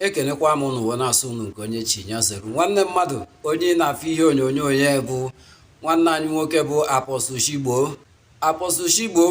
ekenekwa m ụnụ wee na-asị ụnụ nke onye chi ya zere nwanne mmadụ onye ị na-afụ ihe onyonyo ya bụ nwanne anyị nwoke bụ apọstụl Shigbo apọstụl Shigbo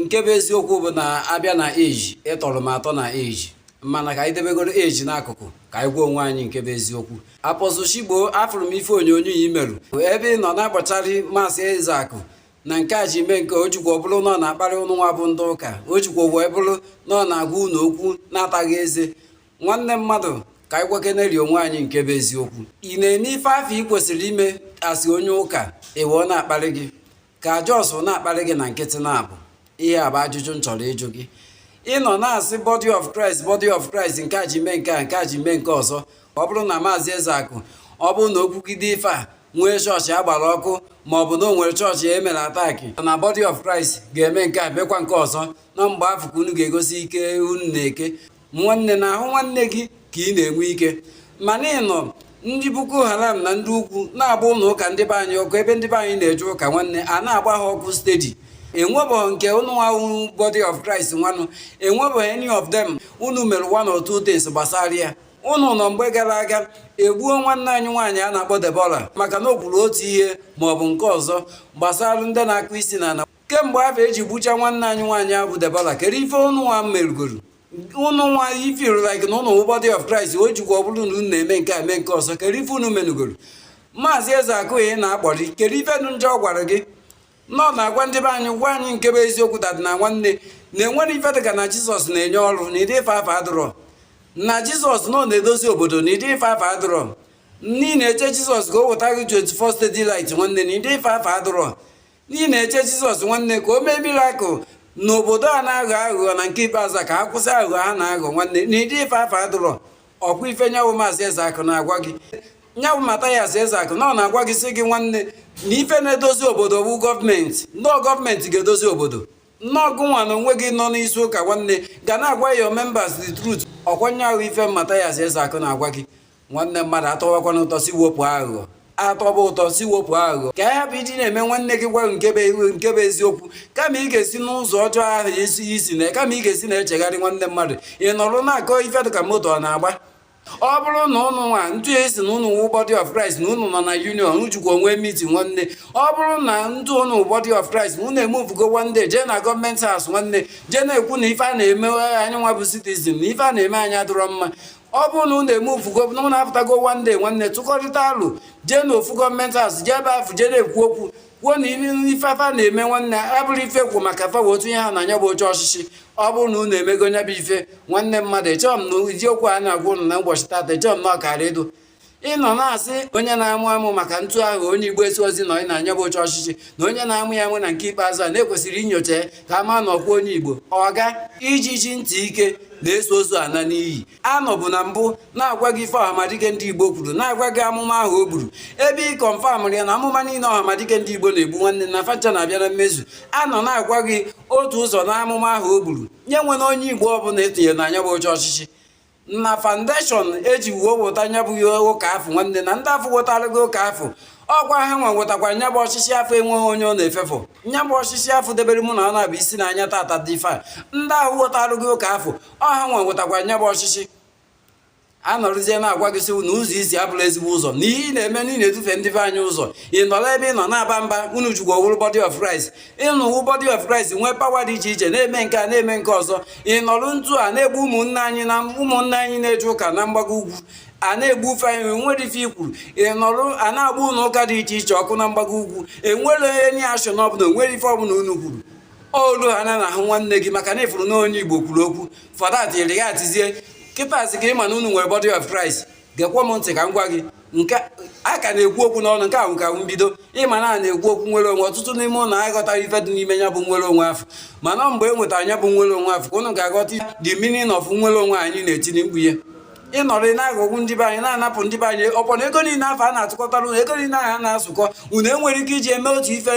nke bụ eziokwu bụ na a bịa na age ị tọrọ m atọ na age mana ka anyị debegoro age n'akụkụ ka anyị gwa onwe anyị nke bụ eziokwu apọstụl Shigbo afụrụ m ife onyonyo ya i merụ ebe ị nọ na-agbacharị maazị Ezeakụ na nke a ji mee nke a o jikwa ọ bụrụ na ọ na-akparị ụnụ nwa bụ ndị ụka o jikwa wee bụrụ na ọ na-agwa ụnụ okwu na-ataghị eze nwanne mmadụ ka anyị gwakeneri onwe anyị nke bụ eziokwu ị na-eme ife afụ ị kwesịrị ime as onye ụka ị wụ ọ na-akparị gị ka ọ just na-akparị gị na nkịtị na-abụ ihe a bụ ajụjụ m chọrọ ịjụ gị ị nọ na-asị body of Christ body of Christ nke a ji mee nke a nke a ji mee nke ọzọ ọ bụrụ na maazị Ezeakụ ọ bụrụ na o kwugide ife a nwee chọọchị a gbara ọkụ ma ọ bụ na o nwere chọọchị e mere attack na body of Christ ga-eme nke a mekwa nke ọzọ na mgbe afụ ka unu ga-egosi ike unu na-eke nwanne n'ahụ nwanne gị ka ị na-enwe ike mana ị nọ ndị Boko Haram na ndị ugwu na-agba ụlọ ụka ndị be anyị ọkụ ebe ndị be anyị na-eje ụka nwanne a na-agba ha ọkụ steady enwebeghị nke unu nwa wụ body of Christ nwanụ enwebeghị any of them unu mere one or two things gbasara ya ụnụ nọ mgbe gara aga e gbuo nwanne anyị nwaanyị a na-akpọ Debora maka na o kwuru otu ihe ma ọ bụ nke ọzọ gbasara ndị na-akụ isi na kemgbe afụ e ji gbucha nwanne anyị nwaanyị ahụ bụ Debora kedu ife ụnụ nwa merugoro ụnụ nwa feel like na ụnụ body of Christ o jikwa ọ bụrụ na unu na-eme nke a mee nke ọzọ kedu ife unu merugoro maazị Ezeakụ ị na-akparị kedu ife dụ njọ ọ gwara gị na ọ na-agwa ndị be anyị gwa anyị nke bụ eziokwu that is na nwanne na enwerọ ife dịka na jizọs na-enye ọrụ na ụdị ife afụ adụrọ na jizọs nọ na-edozi obodo na ụdị ife afụ adụrọ na ị na-eche jizọs ka o weta gị 24 steady light nwanne na ụdị ife afụ adụrọ na ị na-eche jizọs nwanne ka o mee mirakụl n'obodo a na-aghọ aghụghọ na nke ikpeazụ ka ha kwụsị aghụghọ ha na-aghọ nwanne na ụdị ife afụ adụrọ ọ kwa ife nya wụ maazị Ezeakụ na-agwa gị nya wụ Mathias Ezeakụ na ọ na-agwa gị sị gị nwanne na ife na-edozi obodo bụ gọọmenti na ọ gọọmenti ga-edozi obodo na ọ gụnwa na onwe gị nọ n'isi ụka nwanne ga na-agwa your members the truth ọ kwa nya wụ ife Mathias Ezeakụ na-agwa gị nwanne mmadụ a tọwakwanụ ụtọ sị wepụ aghụghọ a tọba ụtọ sị wepụ aghụghọ ka ya bụ iji na-eme nwanne gị gwa nke bụ eziokwu kama ị ga-esi n'ụzọ ọjọọ ahụ isi isi na kama ị ga-esi na-echegharị nwanne mmadụ ị nọrọ na-akọ ife dịka moto ọ na-agba ọ bụrụ na ụnụ nwa ntụ esi na ụnụ wụ body of Christ na ụnụ nọ na union o jikwa onwe miti nwanne ọ bụrụ na ndụ ụnụ body of Christ na ụnụ emuvugo nwanne jee na gọọmenti house nwanne jee na-ekwu na ife a na-eme anyị nwa bụ citizen na ife a na-eme anyị adịrọ mma ọ bụrụ na unu eme ufugo na unu apụtago one day nwanne tụkọrịta alụ jee na ofu government house jee ebe afụ jee na-ekwu okwu kwuo na ife a fa na-eme nwanne abụrọ ife kwu maka fa otu ihe ha na nya bụ oche ọchịchị ọ bụrụ na unu emego nya bụ ife nwanne mmadụ echerọ m na ụdị okwu a na-agwa unu na ụbọchị tata echerọ m na ọkara edo ị nọ na-asị onye na-amụ amụ maka ntụ ahụ onye igbo esi ozi nọ na nya bụ oche ọchịchị na onye na-amụ ya amụ na nke ikpeazụ a na-ekwesịrị inyocha ka a ma na ọkwa onye igbo ọga ijiji ntị ike na-eso ozu ana n'iyi a nọbu na mbụ na-agwa gị ife ọhamadike ndị igbo kwuru na-agwa gị amụma ahụ o gburu ebe ị kọnfamụrụ ya na amụma niile ọhamadike ndị igbo na-egbu nwanne na fa ncha na-abịa na mmezu a nọ na-agwa gị otu ụzọ na amụma ahụ o gburu na e nwere onye igbo ọbụla e tinyere na nya bụ oche ọchịchị na foundation e ji wee weta nya bụ ihe ụka afọ nwanne na ndị afọ wetara gị ụka afọ ọkwa ha nwa wetakwara nya bụ ọchịchị afọ enweghị onye ọ na-efefụ nya bụ ọchịchị afọ debere mụ na ọ na-abụ isi na anya tata dị ife a ndị ahụ wetara gị ụka afọ ọ ha nwa wetakwara nya bụ ọchịchị a nọrụzie na-agwa gị sị na ụzọ i si abụrọ ezigbo ụzọ na ihe ị na-eme na ị na-edufe ndị be anyị ụzọ ị nọrọ ebe ị nọ na-aba mba unu jugwa nwere body of Christ unu nwee body of Christ nwee pawa dị iche iche na-eme nke a na-eme nke ọzọ ị nọrụ ntu a na-egbu ụmụnne anyị na ụmụnne anyị na-eje ụka na mgbago ugwu a na-egbu ufe anyị nwere ife i kwuru ị nọrụ a na-agba ụlọ ụka dị iche iche ọkụ na mgbago ugwu e nwere any action ọbụla o nwere ife ọbụla unu kwuru olu ha na ahụ nwanne gị maka na ị fụrụ na onye Igbo kwuru okwu fadat yere ya atizie kịtazi ka ị ma na unu nwere body of Christ gekwa m ntị ka m gwa gị nke a ka na-ekwu okwu n'ọnụ nke ahụ ka m bido ị ma na a na-ekwu okwu nwere onwe ọtụtụ n'ime unu aghọtarọ ife dị n'ime ya bụ nwere onwe afọ mana mgbe e nwetara ya bụ nwere onwe afọ ka unu ga-aghọta the meaning of nwere onwe anyị na-etinye mkpu ya ị nọrọ na-aghọgbu ndị be anyị na-anapụ ndị be anyị ọkwa na ego niile afọ a na-atụkọtara unu ego niile ahụ a na-atụkọ unu e nwere ike iji eme otu ife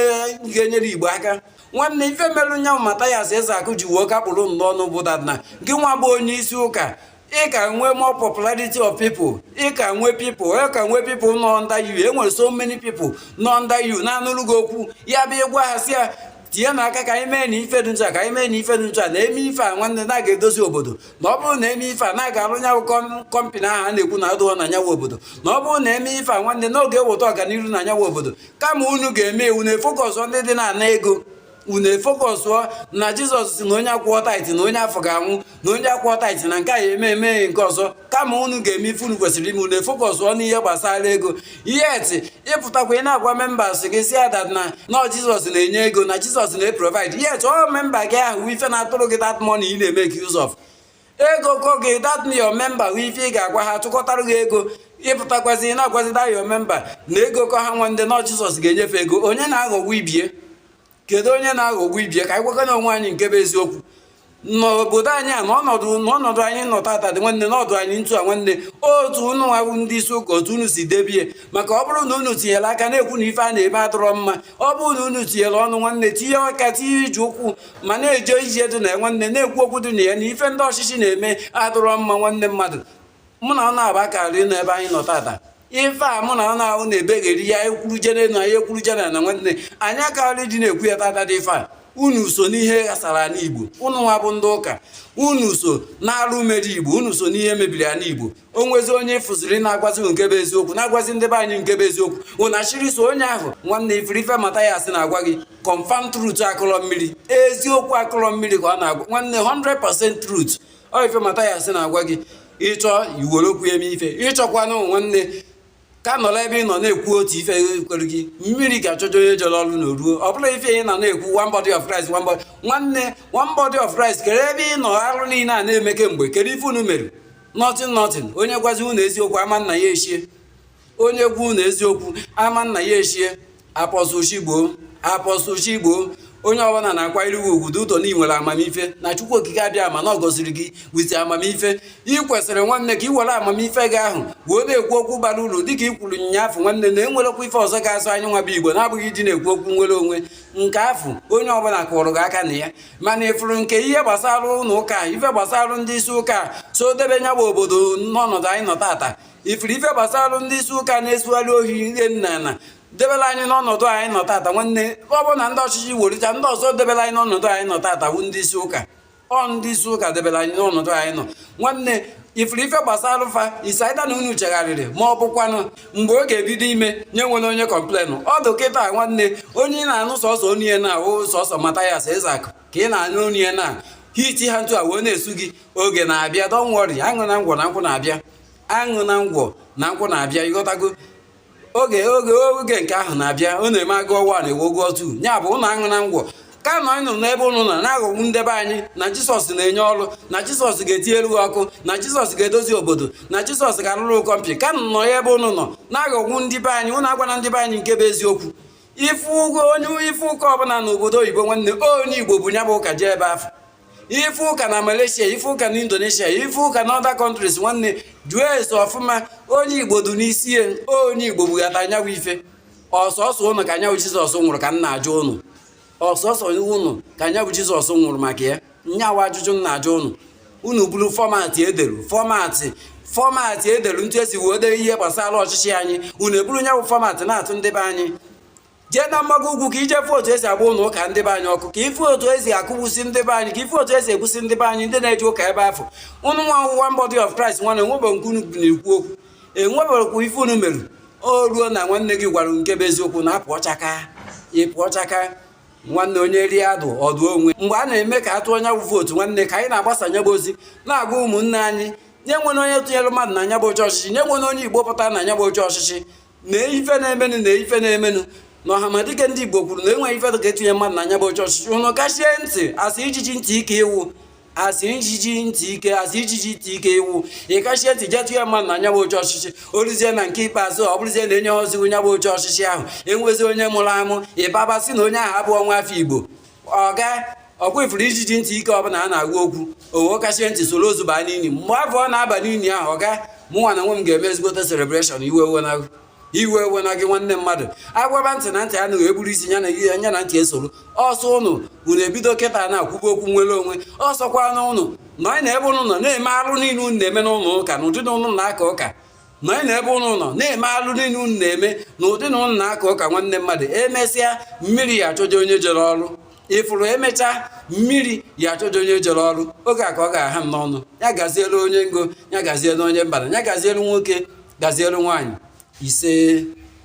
ga-enyere igbo aka nwanne ife merụ nyanwụ mata ya eze akụ ji wuo kapụrụ nnọọ n'ụbụda na gị nwa bụ onye isi ụka ị ka nwee more popularity of people ị ka nwee people ị ka nwee people nọ under you e nwere so many people nọ under you na-anụrụ gị okwu ya bụ ị gwa ha sị ya tinyenụ aka ka anyị mee na ife dị ncha ka anyị mee na ife dị ncha na e mee ife a nwanne na a ga-edozi obodo na ọ bụrụ na e mee ife a na a ga-arụ nya bụ kọmpani ahụ a na-ekwu na adịrọ na nya bụ obodo na ọ bụrụ na e mee ife a nwanne na ọ ga-eweta ọganihu na nya bụ obodo kama unu ga-eme ya unu efokọsụọ ndị dị na-ana ego unu efokọsụọ na jizọs si na onye akwụọ taiti na onye afọ ga-anwụ na onye akwụọ taiti na nke a ya eme eme nke ọzọ kama unu ga-eme ife unu kwesịrị ime unu efokọsụọ n'ihe gbasara ego yet ị pụtakwa ị na-agwa membas gị sị ha dat na nọ jizọs na-enye ego na jizọs na-eprovaid yet ọ memba gị ahụ ife na-atụrụ gị dat mọni ị na-emeke use of ego kọ gị dat na your member hụ ife ị ga-agwa ha tụkọtara gị ego ị pụtakwazi ị na-agwazi da your member na ego kọ ha nwa ndị na Jizọs ga-enye fa ego onye na-aghọgbu ibie kedu onye na-aghọgbu ibie ka anyị gwakọna onwe anyị nke bụ eziokwu n'obodo anyị a n'ọnọdụ n'ọnọdụ anyị nọ tata dị nwanne n'ọdụ anyị ntu a nwanne otu unu nwa wụ ndị isi ụka otu unu si debie maka ọ bụrụ na unu tinyere aka na-ekwu na ife a na-eme adọrọ mma ọ bụrụ na unu tinyere ọnụ nwanne tinye aka tinye ije ụkwụ ma na-eje ije dị na ya nwanne na-ekwu okwu dị na ya na ife ndị ọchịchị na-eme adịrọ mma nwanne mmadụ mụ na ọ na-aba karị n'ebe anyị nọ tata ife a mụ na ọ na-ahụ na-ebegheri ya ekwuru jere na ya ekwuru jere na nwanne anyị akarị dị na-ekwu ya tata dị ife a unu so n'ihe ghasara ala igbo unu nwa bụ ndị ụka unu so n'arụ mere igbo unu so n'ihe mebiri ala igbo o nwezi onye ị fụziri na-agwazi nke bụ eziokwu na-agwazi ndị be anyị nke bụ eziokwu ụna chiri so onye ahụ nwanne ị fụrụ ife Mathias na-agwa gị confam truth akụrọ mmiri eziokwu akụrọ mmiri ka ọ na-agwa nwanne 100% truth ọ ife Mathias na-agwa gị ị chọọ i were okwu eme ife ị chọkwanụ nwanne ka nọrọ ebe ị nọ na-ekwu otu ife kwere gị mmiri ga-achọjọ onye jere ọrụ na o ruo ọ bụrụ ife ị na na-ekwu one body of Christ one body nwanne one body of Christ kedu ebe ị nọ arụ niile a na-eme kemgbe kedu ife unu mere nothing nothing onye gwazi unu eziokwu ama nna ya echie onye gwa unu eziokwu ama nna ya echie apostle chigbo apostle chigbo onye ọbụla na-akwanyere gị ugwu due to na ị nwere amamife na chukwu okike abịama na ọ gọziri gị with amamife ị kwesịrị nwanne ka ị were amamife gị ahụ wee na-ekwu okwu bara uru dịka ị kwuru nya afụ nwanne na enwerọkwa ife ọzọ ga-azọ anyị nwa bụ igbo na-abụghị ịdị na-ekwu okwu nnwere onwe nke afụ onye ọbụla kụrụ gị aka na ya mana ị fụrụ nke ihe gbasara ụlọ ụka ife gbasara ndị isi ụka so debe nya bụ obodo n'ọnọdụ anyị nọ tata ị fụrụ ife gbasara ndị isi ụka na-esughari ohi ihe nna na debela anyị n'ọnọdụ anyị nọ tata nwanne ọ bụ na ndị ọchịchị werita ndị ọzọ debela anyị n'ọnọdụ anyị nọ tata bụ ndị isi ụka ọ ndị isi ụka debela anyị n'ọnọdụ anyị nọ nwanne ị fụrụ ife gbasara fa is either na unu chegharịrị ma ọ bụkwanụ mgbe ọ ga-ebido ime nye nwere onye kọmplenụ ọ dụ kịta nwanne onye ị na-anụ sọsọ onu ya na-ahụ sọsọ Mathias Ezeaku ka ị na-anụ onu ya na-ahiti ha ntu a wee na-esu gị oge na-abịa don't worry aṅụ na ngwọ na nkwụ na-abịa aṅụ na ngwọ na nkwụ na-abịa ị ghọtago oge oge oge nke ahụ na-abịa ọ na-eme agụ ọwa na ewe ụgwọ tu ya bụ ụlọ aṅụ na ngwọ ka nọ anyị nụrụ n'ebe ụnụ nọ na-aghọgbu ndị be anyị na jisọs na-enye ọrụ na jisọs ga-etinyelu ọkụ na jisọs ga-edozi obodo na jisọs ga-alụrụ company ka nọ ya ebe ụnụ nọ na-aghọgbu ndị be anyị ụnụ agwana ndị be anyị nke bụ eziokwu ị fụgo onye ị fụ ụka ọbụla n'obodo oyibo nwanne onye igbo bu nya bụ ụka jee ebe afụ ife ụka na Malaysia ife ụka na Indonesia ife ụka na other countries nwanne jụọ ese ọfụma onye Igbo dị n'isi ya onye Igbo bubata nya bụ ife ọ sọsọ ụnụ ka nya bụ Jizọs nwụrụ ka m na-ajụ ụnụ ọ sọsọ ụnụ ka nya bụ Jizọs nwụrụ maka ya nya bụ ajụjụ m na-ajụ ụnụ unu buru fọmatị edelu fọmatị fọmatị edelu etu esi wee dee ihe gbasara ọchịchị anyị unu eburu nya bụ fọmatị na-atụ ndị be anyị jee na mgbago ugwu ka ị je fụ otu esi agba ụlọ ụka ndị be anyị ọkụ ka ị fụ otu esi akụgbusi ndị be anyị ka ị fụ otu esi egbusi ndị be anyị ndị na-eje ụka ebe afụ ụnụ nwa ọwụwa body of Christ nwana enwebe nke unu na-ekwu okwu enweberekwu ife unu mere o ruo na nwanne gị gwara nke bụ eziokwu na apụ ọchaka ịpụ ọchaka nwanne onye rie adụ ọdụ onwe mgbe a na-eme ka a tụọ nya bụ vootu nwanne ka anyị na-agbasa nya bụ ozi na-agwa ụmụnne anyị nya enwela onye tụnyere mmadụ na nya bụ oche ọchịchị nya enwela onye igbo pụtara na nya bụ oche ọchịchị na ife na-emenụ na ife na-emenụ na ọhamadike ndị igbo kwuru na enweghị ife ka etinye mmadụ na nya bụ oche ọchịchị ụnụ kachie ntị asị ijiji ntị ike ị wụ asị ijiji ntị ike asị ijiji ntị ike ị wụ ị kachie ntị jee tụnye mmadụ na nya bụ oche ọchịchị oluzie na nke ikpeazụ ọ bụrụzie na enye ha oziwu nya bụ oche ọchịchị ahụ enwezi onye mụrụ amụ ịbaba sị na onye ahụ abụrọ nwa afọ igbo ọga ọkwa ị fụrụ ijiji ntị ike ọbụla a na-agwa okwu ọ kachie ntị soro ozu baa n'ili mgbe afụ ọ na-aba n'ili ahụ ọga mụnwa na nwe m ga-eme ezigbote selebreshọn iwe ewena iwe ewena gị nwanne mmadụ agwaba ntị na ntị anụghị eburu isi ya na ihe anya na ntị esoro ọsọ ụnụ unu ebido kịta na-akwụba okwu nwere onwe ọsọkwa n'ụnụ na anyị na ebe ụnụ nọ na-eme arụ niile unu na-eme n'ụlọ ụka na ụdị na ụnụ na-aka ụka na anyị na ebe ụnụ nọ na-eme alụ niile unu na-eme na ụdị na ụnụ na-aka ụka nwanne mmadụ emesịa mmiri ya achọje onye jere ọrụ ị fụrụ emechaa mmiri ya achọje onye jere ọrụ oge a ka ọ ga-aha m n'ọnụ ya gazielu onye ngo ya gazielu onye mbara ya gazielu nwoke gazielu nwaanyị ise